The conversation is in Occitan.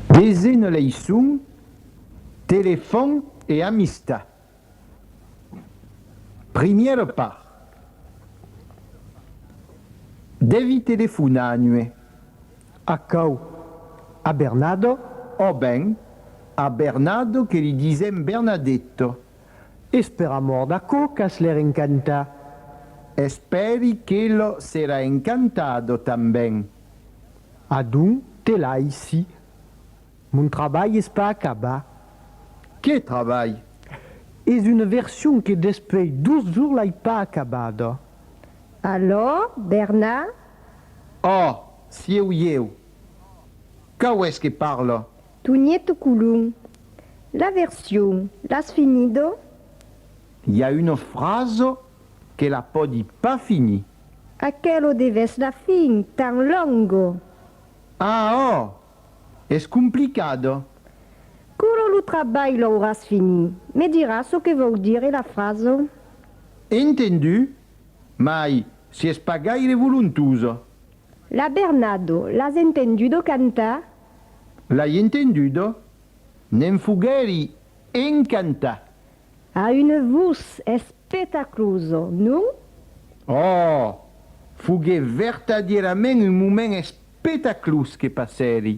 Desena leiçon, Telefòn e amistat. Primièra part, Devi telefonar a nue. Aquò, a Bernado? Ò ben, a Bernado que li disèm Bernadetto. Es per amor d'aquò qu'as l'air encantat. Espèri que lo serà encantado tanben. Adon te laissi. Mon trabalh es pas acabat. Qué trabalh? Es una version que despei dos jours l'ai pas acabada. Alò, Bernard? Òh, sieu ieu. Cau es que parla? Tonièto Colom. La version, l'as finido? I a una frasa que la pòdi pas finir. Aquelo de vèsla fin tan longo! Ah oh! Es complicado. Curo lo trabalh l'auràs fini. Me diràs çò que vòu dire la fraso? Entendu, mai si es pas gaire volontuso. La Bernado, l'as entendudo cantar? L'ai entendudo, ne'n foguèri encantat. A un vos espetacloso, non? Òòh! Foguèt vertadièrament un moment espetaclós que passèri.